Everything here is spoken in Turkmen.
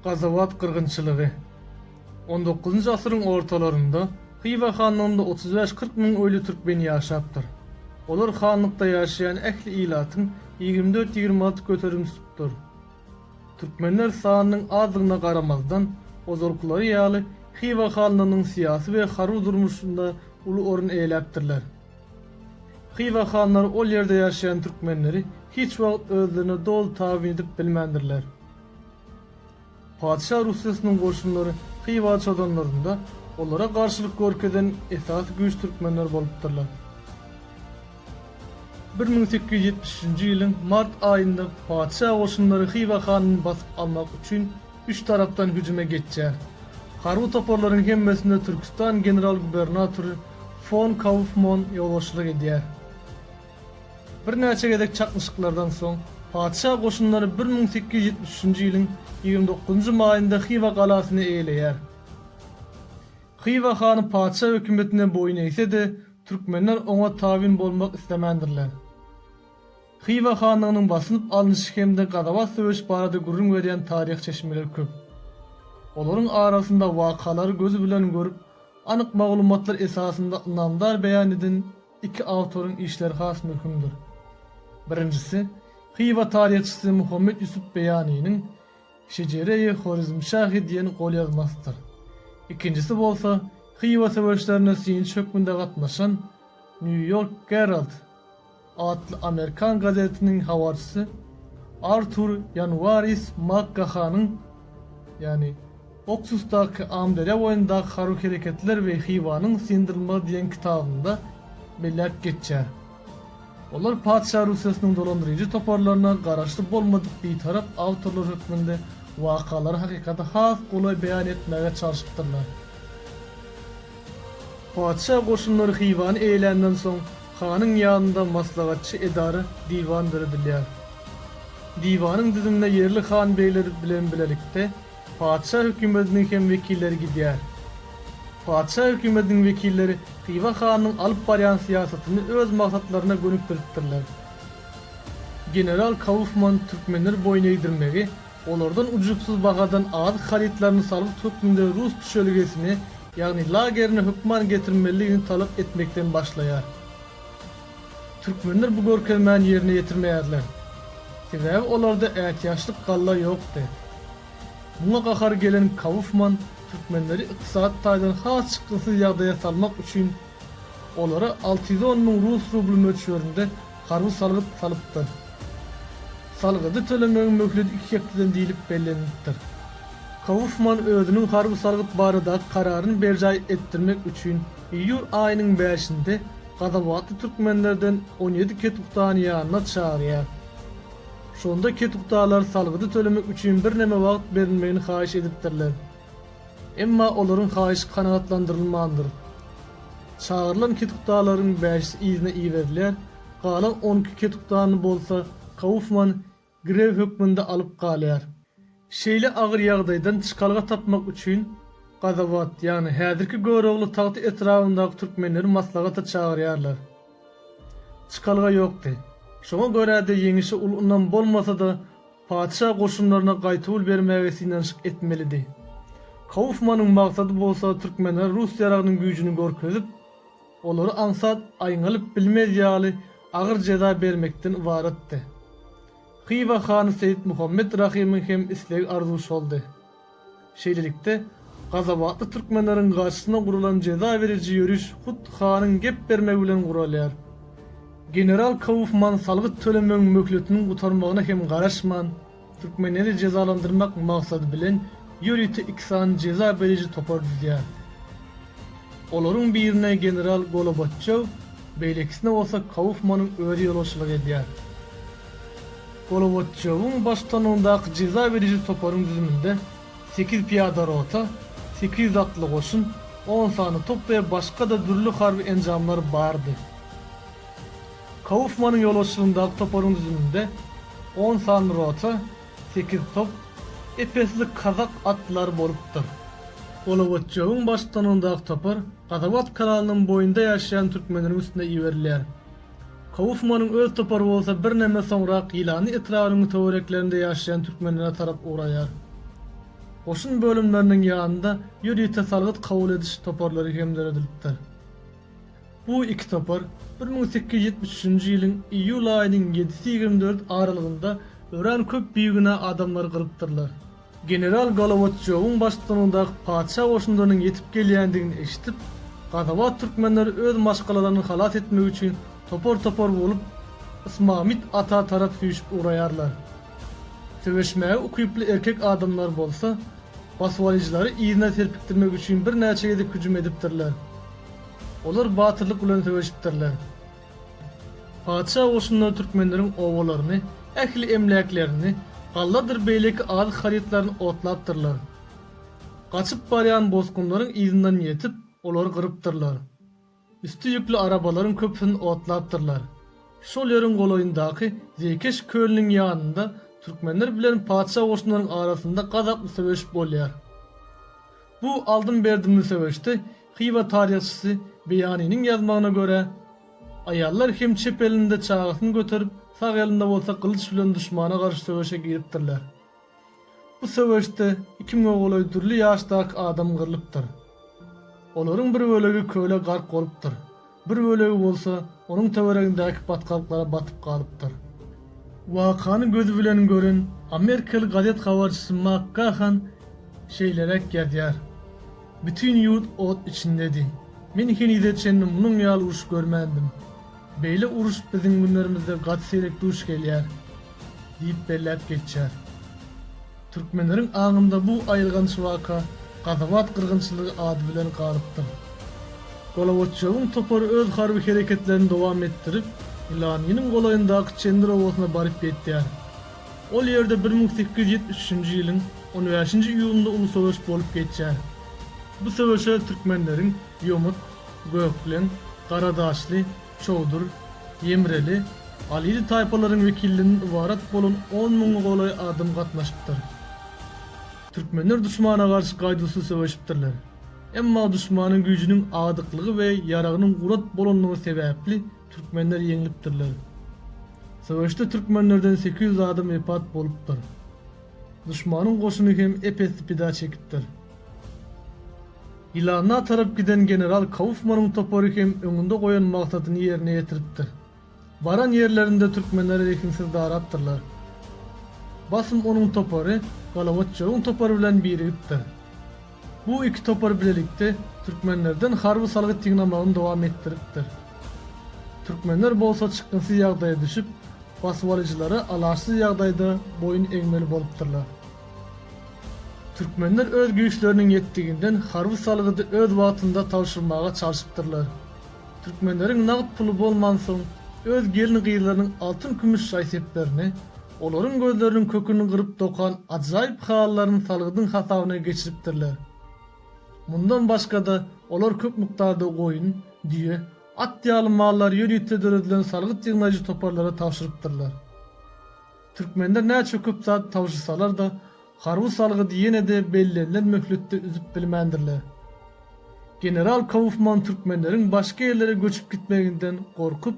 Gazawat gyrgynçylygy. On dokuzynjy asyryň ortalarynda Hywa hanlygynda otuz bäş-kyrk müň öýli türkmen ýaşapdyr. Olar hanlykda ýaşaýan ähli ilatyň ýigrimi dört-ýigrimi alty göterim tutupdyr. Türkmenler sanynyň azdygyna garamazdan, ozalkylary ýaly Hywa hanlygynyň syýasy we harby durmuşynda uly orun eýläpdirler. Hywa hanlary ol ýerde ýaşaýan türkmenleri hiç wagt özlerine doly tabyn edip bilmändirler. Patyşa Rusyýasynyň goşunlary Hywa çozanlarynda olara garşylyk görkezen esasy güýç türkmenler bolupdyrlar. Bir müň sekiz ýüz ýetmiş üçünji ýylyň mart aýynda patyşa goşunlary Hywa hanyny basyp almak üçin üç tarapdan hüjüme geçýär. Harby toparlaryň hemmesine Türküstan general-gubernatory fon Kaufmon ýolbaşçylyk edýär. Birnäçe gezek çaknyşyklardan soň, patyşa goşunlary bir müň sekiz ýüz ýetmiş üçünji ýylyň ýigrimi dokuzynjy maýynda Hywa galasyny eýeleýär. Hywa hany patyşa hökümetine boýun eýse-de, Türkmenler oňa tabyn bolmak islemändirler. Hywa hanlygynyň basylyp alnyşy hem-de Gazabat söweşi barada gürrüň berýän taryhy çeşmeler köp. Olaryň arasynda wakalary göz bilen görüp, anyk maglumatlar esasynda ynamdar beýan eden iki awtoryň işleri has möhümdir. Birinjisi, Hywa taryhçysy Muhammet Ýusup Beýanynyň Şejere-i Horezmşahy diýen golýazmasydyr. Ikinjisi bolsa Hywa söweşlerine synçy hökmünde gatnaşan Nýu-Ýork Gerald atly amerikan gazetiniň habarçysy Artur Ýanwaris Makgahanyň, ýagny Oksusdaky Amyderýa boýundaky harby hereketler we Hywanyň syndyrylmagy diýen kitabynda belläp geçýär. Olar Patyşa Russiýasynyň dolandyryjy toparlaryna garaşly bolmadyk bitarap awtorlar hökmünde wakalary hakykaty has golaý beýan etmäge çalşypdyrlar. Patyşa goşunlary Hywany eýeländen soň, hanyň ýanynda maslahatçy edara, diwan döredilýär. Diwanyň düzümine ýerli han-begler bilen bilelikde, Patyşa hökümetiniň hem wekilleri gidýär. Patyşa hökümetiniň wekilleri Hywa hanyň alyp barýan syýasatyny öz maksatlaryna gönükdiripdirler. General Kaufman türkmenleri boýun egdirmegi, olardan ujupsyz bahadan azyk harytlaryny salgyt hökmünde rus düşelgesine, ýagny lageryna hökman getirmeliligini talap etmekden başlaýar. Türkmenler bu görkezmäni ýerine ýetirmeýärler. Sebäbi olarda ätiýaçlyk galla ýokdy. Muňa gahary gelen Kaufman türkmenleri ykdysady taýdan has çykgynsyz ýagdaýa salmak üçin olara alty ýüz on müň rus rubly möçberinde harby salgyt salypdyr. Salgydy tölemegiň möhledi iki hepdeden diýlip bellenilipdir. Kaufman özüniň harby salgyt baradaky kararyny berjaý etdirmek üçin Iýul aýynyň bäşinde gazawatly türkmenlerden on ýedi ketuktany ýanyna çagyrýar. Şonda ketuktalar salgydy tölemek üçin birneme wagt berilmegini haýyş edipdirler. Emma olaryň haýyşy kanagatlandyrylmandyr. Çagyrylan ketuktalaryň bäşisi yzyna iberilýär, galan on iki ketuktany bolsa Kaufman grew hökmünde alyp galýar. Şeýle agyr ýagdaýdan çykalga tapmak üçin Gazawat, ýagny häzirki Görogly tagty etrabyndaky türkmenleri maslahata çagyrýarlar. Çykalga ýokdy. Şoňa görä-de ýeňişe uly ynam bolmasa-da, patyşa goşunlaryna gaýtawul bermäge synanyşyk etmelidi. Kaufmanyň maksady bolsa türkmenlere rus ýaragynyň güýjüni görkezip, olary aňsat aýňalyp bilmez ýaly agyr jeza bermekden ybaratdy. Hywa hany Seýit Muhammet Rahymyň hem islegi-arzuwy şoldy. Şeýlelikde, gazabatly türkmenleriň garşysyna guralan jeza beriji ýöriş hut hanyň gep bermegi bilen guralýar. General Kaufman salgyt tölemegiň möhletiniň gutarmagyna hem garaşman, Türkmenleri jezalandyrmak maksady bilen ýörite iki sany jeza beriji topar düzýär. Olaryň birine general Golobatçew, beýlekisine bolsa Kaufmanyň özi ýolbaşçylyk edýär. Golobatçewiň baştutanlygyndaky jeza beriji toparyň düzüminde sekiz pyýada rota, sekiz ýüz atly goşun, on sany top we başga-da dürli harby enjamlar bardy. Kaufmanyň ýolbaşçylygyndaky toparyň düzüminde on sanly rota, sekiz top, epesli kazak atlary bolupdyr. Golowatjowyň baştutanlygyndaky topar Gazawat kanalynyň boýunda ýaşaýan türkmenleriň üstüne iberilýär. Kaufmanyň öz topary bolsa birneme soňrak Ýylany etrabynyň töwereklerinde ýaşaýan türkmenlere tarap ugraýar. Goşun bölümleriniň ýanynda ýörite salgyt kabul ediş toparlary hem döredilipdir. Bu iki topar bir müň sekiz ýüz ýetmiş üçünji ýylyň iýul aýynyň ýedisi ýigrimi dört aralygynda örän köp bigünä adamlary gyrypdyrlar. General Golowotçýowyň baştutanygyndaky patyşa goşunlarynyň ýetip gelýändigini eşidip, gazabat türkmenler öz maşgalalaryny halas etmek üçin topar-topar bolup Ysmamyt ata tarap süýşüp ugraýarlar. Söweşmäge ukyply erkek adamlar bolsa, basybalyjylary yzyna serpikdirmek üçin birnäçe gezek hüjüm edipdirler. Olar batyrlyk bilen söweşipdirler. Patyşa goşunlary türkmenleriň obalaryny, ähli emläklerini, galladyr beýleki azyk-harytlaryny otlapdyrlar. Gaçyp barýan bosgunlaryň yzyndan ýetip, olary gyrypdyrlar. Üsti ýükli arabalaryň köpüsini otlapdyrlar. Şol ýeriň golaýyndaky Zeýkeş kölüniň ýanynda türkmenler bilen patyşa goşunlaryň arasynda gazaply söweş bolýar. Bu aldym-berdimli söweşde Hywa taryhçysy Beýanynyň ýazmagyna görä, aýallar hem çep elinde çagasyny göterip, sag elinde bolsa gylyç bilen duşmana garşy söweşe giripdirler. Bu söweşde iki müň golaý dürli ýaşdaky adam gyrlypdyr. Olaryň bir bölegi köle gark bolupdyr, Bir bölegi bolsa onuň töweregindäki batgalyklara batyp galypdyr. Wakany gözi bilen gören amerikaly gazet habarçysy Mak Gahan şeýleräk ýazýar, Bütin ýurt ot içindedi. Men henize çenli munuň ýaly uruş görmändim. Beýle uruş biziň günlerimizde gaty seýrek duş gelýär diýip belläp geçýär. Türkmenleriň aňynda bu aýylganç waka Gazabat gyrgynçylygy ady bilen galypdyr. Golobatýowyň topary öz harby hereketlerini dowam etdirip, Ilaniniň golaýyndaky Çendir obasyna baryp ýetýär. Ol ýerde bir müň sekiz ýüz ýetmiş üçünji ýylyň on bäşinji iýulynda uly söweş bolup geçýär. Bu söweşe türkmenleriň Ýomut, Gökleň, Garadaşly, Çowdur, Ýemreli, Alili taýpalaryň wekillerinden ybarat bolan on müňe golaý adam gatnaşypdyr. Türkmenler duşmana garşy gaýduwsyz söweşipdirler. Emma duşmanyň güýjüniň adyklygy we ýaragynyň gurat bolanlygy sebäpli türkmenler ýeňlipdirler. Söweşde türkmenlerden sekiz ýüz adam wepat bolupdyr. Duşmanyň goşuny hem ep-esli pida çekipdir. Ýylanda tarap giden general Kaufmanyň topary hem öňünde goýan magsadyny ýerine ýetiripdir. Baran ýerlerinde türkmenleri rehimsiz darapdyrlar. Basym onuň topary Galawaçjowyň topary bilen birigipdir. Bu iki topar bilelikde türkmenlerden harby salgyt ýygnamagyny dowam etdiripdir. Türkmenler bolsa çykgynsyz ýagdaýa düşüp, basybalyjylara alaçsyz ýagdaýda boýun egmeli bolupdyrlar. Türkmenler öz güýçleriniň ýetdiginden harby salgydy öz wagtynda tabşyrmaga çalşypdyrlar. Türkmenleriň nagt puly bolmansoň, öz gelin-gyzlarynyň altyn-kümüş jaýseplerini, Olaryň gözleriniň köküni gyryp dokan ajaýyp halylaryny salgydyň hasabyna geçiripdirler. Mundan başga-da, olar köp mukdarda goýun, düýe, at ýaly mallary ýörite döredilen salgyt ýygnaýjy toparlara tabşyrypdyrlar. Türkmenler näçe köp zat tabşyrsalar-da, harby salgydy ýene-de bellenilen möhletde üzüp bilmändirler. General Kaufman türkmenleriň başga ýerlere göçüp gitmeginden gorkup,